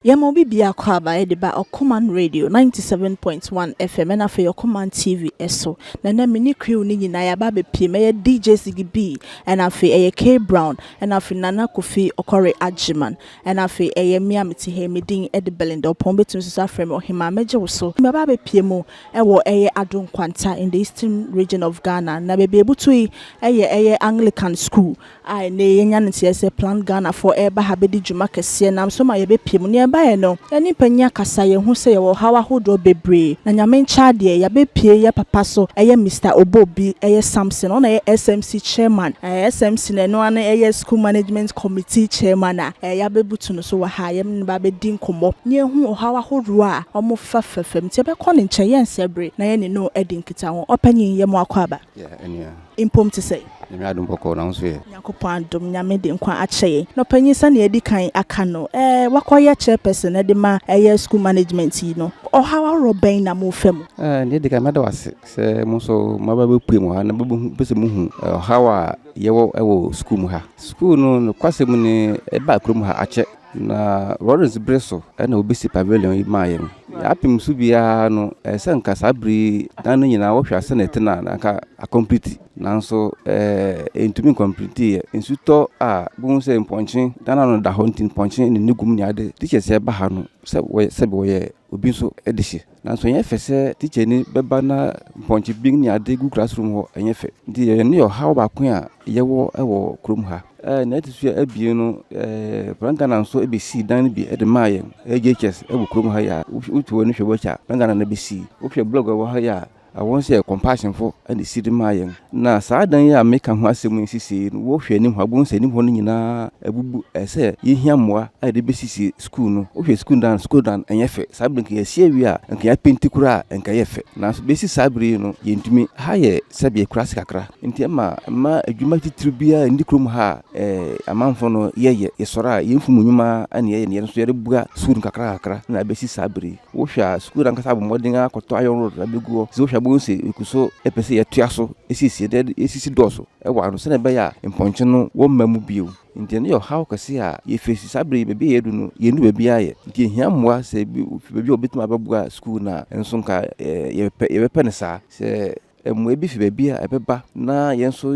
Yɛma obi biako aba de ba Ɔkoman Radio ninety seven point one FM ɛna afei Ɔkoman TV so. Na ɛnɛ me ne crew no nyinaa yɛaba abɛpue. Mɛyɛ DJ Ziggy B ɛna afei ɛyɛ K Brown ɛna afei Nana Kofi Ɔkɔre Agyeman ɛna afei ɛyɛ me a mete ha yi. Me din de Belinda Ɔpɔn wobɛtumi nso afrɛ me Ɔhemaa. Mɛgye wo so. Mɛba abɛpue mu wɔ ɛyɛ Addo Nkwanta in the Eastern Region of Ghana na baabi a ɛbutu yi yɛ ɛyɛ Anglican School. a ɛnnɛ yɛanya no nteɛ sɛ Plant Ghana foɔ ɛreba ha bɛdi dwuma kɛseɛ nam so ma yɛbɛpie mu. Neɛ ɛbaeɛ no, yɛne mpanyin akasa, yɛahu sɛ yɛwɔ ɔhaw ahodoɔ bebree, na Nyame nkyɛ adeɛ, yɛabɛpie yɛ papa so, ɛyɛ Mister Oboh bi, ɛyɛ Samson, ɔna ɛyɛ SMC Chairman, ɛɛ SMC no ɛno ara no ɛyɛ School Management Committee Chairman a ɛɛ yɛabɛbutu no so wɔ ha, yɛne no bɛabɛdi nkɔmmɔ na yɛahu ɔhaw ahodoɔ a wɔfa fa fam, nti yɛbɛkɔ ne nkyɛn, yɛnsɛ bere na yɛne no adi nkitaho. Ɔpanyin, yɛ mo akɔ aba. Yɛ, ɛnea. Mpom te sɛ. Nyame adom bɔkɔɔ na wo nso yɛ. Nyankopɔn adom Nyame de nkwa akyɛ yɛn na ɔpanyin sɛnea yɛadi kan aka no ɛɛ wakɔyɛ chairperson de ma ɛyɛ school management yi no ɔhaw ahoroɔ bɛn na morefa mu? Ɛɛ nea edi kan mɛda wo ase sɛ mo nso moaba abɛpue mu ha na mobɛhu pɛ sɛ mohu ɔhaw a yɛwɔ wɔ school mu ha. School no nokwasɛm ni ɛbaa kurom ha akyɛ Na Lawrence bere so na wobesi pavilion yi maa yɛn. Nea apem so biara no, ɛsɛ sɛ anka saa bere yi dan no nyinaa wohwɛ a sɛnea ɛte no a na anka akɔmpliti. Nanso ɛɛ entumi nkɔmplitiiɛ. Nsu tɔ a, bohu sɛ mpɔnkye dan ano no da hɔ nti mpɔnkye ne ne gum ne ade. Teachers a ɛba ha no sɛ wɔyɛ sɛbe wɔyɛ obi nso de hye. Nanso ɛnyɛ fɛ sɛ tikyani bɛba na mpɔnkye bin ne ade gu classroom hɔ, ɛnyɛ fɛ. Nti yɛn ne ɔhaw baako a yɛwɔ wɔ kurom ha. Ɛɛ nea ɛte so abien no, ɛɛ Plan Ghana nso bɛsii dan no bi de maa yɛn, AJHS wɔ kurom ha yi a, wotu w'ani hwɛ w'akyi a, Plan Ghana na ɛbɛsii. Wohwɛ blog a ɛwɔ ha yi a, Wɔn sɛ Compassionfo na esi de maa yɛn. Na saa dan yi a meka ho asɛm yi nsisii no, wohwɛ anim hɔ a, wubehu sɛ anim hɔ no nyinaa abubu. Ɛsɛ sɛ yehia mmoa a yɛde besisi sukuu no. Wohwɛ sukuu dan no, sukuu dan no, ɛnyɛ fɛ. Saa bere no, anka yɛasi awie a, anka yɛapenti koraa a, anka ɛyɛ fɛ. Nanso besi saa bere yi no, yentumi. Ha yɛ sɛbe akuraase kakra, enti ɛma mma adwuma titiriw biara nni kurom ha a amanfo no yɛyɛ. Yɛsɔre a, yɛn mfumu nnwuma na yɛyɛ, na yɛn nso yɛde boa sukuu no kakrankakra na abesi saa bere yi. Wohwɛ a, sukuu no ankasa abɔ mmɔden ara akɔtɔ iron rod na abegu hɔ. Sɛ wohwɛ a, wobɛhu sɛ yɛgu so pɛ sɛ yɛtoa so siesie no, na esisi dɔɔso wɔ ano sɛnea ɛbɛyɛ a mpɔnkye no wɔmma mu bio. Enti ɛno yɛ ɔhaw kɛse a yɛfeesi. Saa bere yi, baabi a yɛadu no, yɛnnu baabi ara yɛ. Enti yehia mmoa, sɛ bi fi baabi a wobetumi abɛboa sukuu no a, ɛno nso anka yɛbɛpɛ no saa. Sɛ mboa bi fi beebi a ebɛba na hɛn so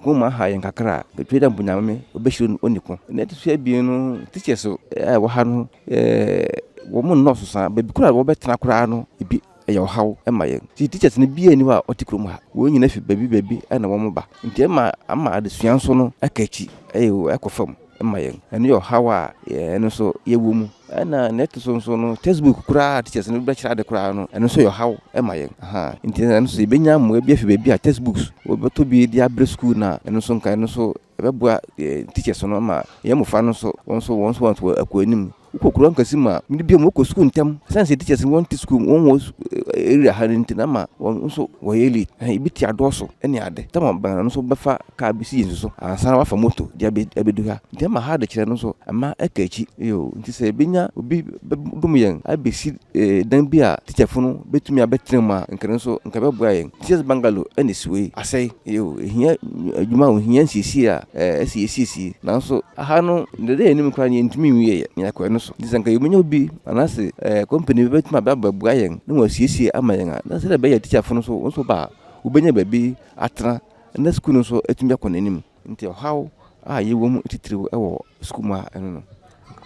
hom aha hɛn kakra a, mekyerɛ dɛ mpo Nyame obehyira hɔn onyi ko. Na ɔto so ebien no, teachers a wɔwɔ ha no, hɔn nndɔ so saa, beebi koraa a wɔbɛtsena koraa no bi yɛ ɔhaw ma hɛn. Ntsi teachers no biara nnyi hɔ a ɔtse kurom ha, hɔn nyina fi beebi beebi na wɔba, ntsi ama ama adzesua so no aka ekyir, ɔkɔ famu. ma yɛn. Ɛno yɛ ɔhaw a yɛn nso yɛwɔ mu. Ɛna nea ɛto so nso no, textbook koraa a teachers no bɛkyerɛ ade koraa no, ɛno nso yɛ ɔhaw ma yɛn. Ahaa, nti ɛno nso yɛbɛnya mmoa bi afi baabi a textbooks, wɔbɛtɔ bi de abrɛ sukuu no a, ɛno nso nka ɛno nso ɛbɛboa yɛn teachers no ma yɛn mmofra no nso, wɔn nso wɔn nso wɔakɔ anim. Wokɔ kurow ankɛse mu a, mmere biara wɔkɔ sukuu ntɛm. Esiane sɛ teachers no wɔnte sukuu mu, wɔnwɔ area ha no nti na ama wɔn nso wɔyɛ late. Ɛhɛn, ebi te adɔɔso ne ade. Tama bɛn ara no nso bɛfa car bi si yɛn su so ansa na wɔafa moto de abedu ha. Nti ɛma ha adekyerɛ no nso, ɛma ɛka akyi. Yoo, nti sɛ yebenya obi bɛdom yɛn abesi dan bi a teacherfo no betumi abɛtsena mu a nka no so nka ɛbɛboa hɛn. Teachers bungalow na esiwei, asɛe. Nyew, ehia edwuma a ohia nsiesie a ɛsɛ yesiesie. Naaso ha no, ndɛ dɛ yɛnye mu koraa no yenntumi nnwie yɛ na yɛakora no so. Ntsi sɛ nka yebenya obi anaase company bi bɛtumi aba abɛboa hɛn na wɔasiesie ama hɛn a, na sɛdeɛ ɛbɛyɛ teacherfo no so wɔn so ba a, wobenya baabi atsena na skuul no so etumi akɔ n'enyim. Nti ɔhaw a yɛwɔ mu titiriw wɔ sukuu mu ara ne no.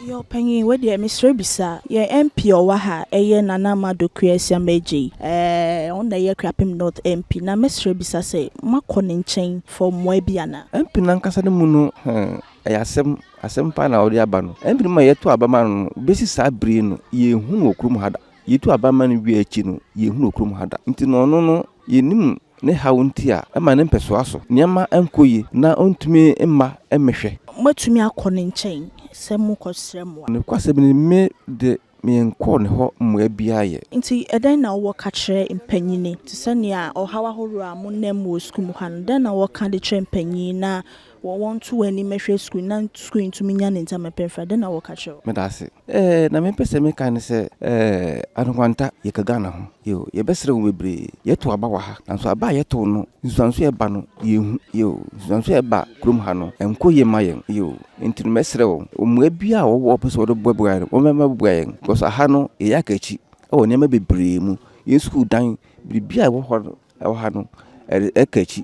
Yɛn ɔpanyin, wei deɛ mesrɛ bisa yɛn MP a ɔwɔ ha, ɛyɛ Nana Ama Dokoe Asiamah Adjei. Ɛɛ ɔno na ɛyɛ Akuapem North MP. Na mɛsrɛ bisa sɛ, moakɔ ne nkyɛn for mmoa bi anaa? MP no ankasa ne mu no, hmm, ɛyɛ asɛm. Asɛm paa na ɔde aba no. MP no ma yɛtoo aba maa no no, besi saa bere yi no, yɛnhu no wɔ kurom ha da. Yetuu aba maa no wiee akyi no, yɛnhu no wɔ kurom ha da. Nti no ɔno no, yɛnnim no. Ne haw nti a, ɛma ne mpɛsoa so nneɛma nkɔ yie na ɔntumi mma mmɛhwɛ. Moatumi akɔ ne nkyɛn sɛ morekɔsrɛ mmoa. Nokwasɛm ni, me de, menkɔɔ ne hɔ mmoa biara yɛ. Enti ɛdɛn na wowɔ ka kyerɛ mpanyin? Te sɛ nea ɔhaw ahorow a monam mu wɔ sukuu mu ha no, dɛn na wɔka de kyerɛ mpanyin na. Wɔ wɔn to wɔ anim mɛhwɛ screen na screen tumi nya ne ntam pɛ fra dɛn na wɔ ka kyerɛ wo. Meda ase. Eh na me pɛ sɛ me ka ne sɛ eh Ado Kwanta yɛ ka Ghana ho yo yɛ bɛ srɛ wo bebree yɛ to aba wɔ ha nanso aba a yɛ too no nsuansoɔ a ɛba no yɛ hu yo nsuansoɔ a ɛba kurom ha no ɛnkɔ yie ma yɛn yo nti no mɛ srɛ wo mmua biaa a wɔ wɔ pɛ sɛ wɔ de boa bua yɛn wɔ mɛ mɛ boa yɛn because aha no yɛ yɛ aka akyi wɔ nneɛma bebree mu yɛn sukuu dan biribiaa a ɛwɔ hɔ no. Ɛwɔ ha no, ɛka akyi.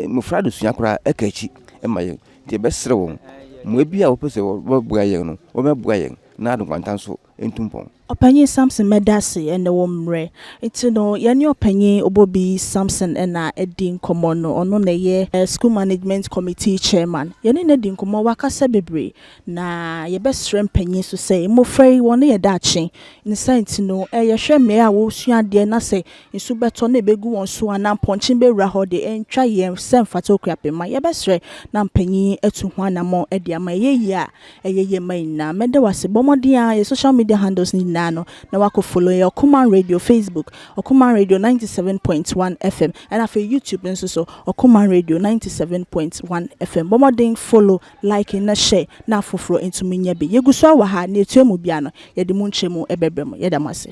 Mmofra adesua koraa ɛka akyi ma yɛn. Nti yɛbɛsrɛ wɔn, mmoa biara a wɔpɛ sɛ wɔbɛboa yɛn no, wɔmmɛboa yɛn na ade nkwanta nso ntu mpɔn. Ɔpanyin Samson Medase ne wo mmerɛ. Nti no yɛne Ɔpanyin Obobi Samson na adi nkɔmmɔ no. Ɔno na ɛyɛ School Management Committee Chairman. Yɛne no adi nkɔmmɔ, wakasa bebree. Na yɛbɛsrɛ mpanyin nso sɛ mmofra yi wɔn yɛ daakye. Ne saa nti no, yɛhwɛ mmeae a wɔresua adeɛ na sɛ nsu bɛtɔ na ɛbɛgu wɔn so anaa mpɔnkye bɛwura hɔ de, ɛntwa yɛn sɛ mfata Okuapemma. Yɛbɛsrɛ na mpanyin atu ho anammɔn de ama. Ɛyɛ yie a, ɛyɛ yie ma yɛn nyinaa. Mɛda wo ase. Bɔ mmɔden ara yɛ social media handles no nyinaa no na woakɔ follow yɛn. Ɔkoman Radio, Facebook, Ɔkoman Radio 97.1 FM, ɛna afei YouTube nso so, Ɔkoman Radio 97.1 FM. Bɔ mmɔden follow Like na hyɛ na afoforɔ ntumi nyɛ bi. Yɛgu so ara wɔ ha, nea ɛtua mu biara no, yɛde mu nkyɛmu bɛbrɛ mo. Yɛda mo ase.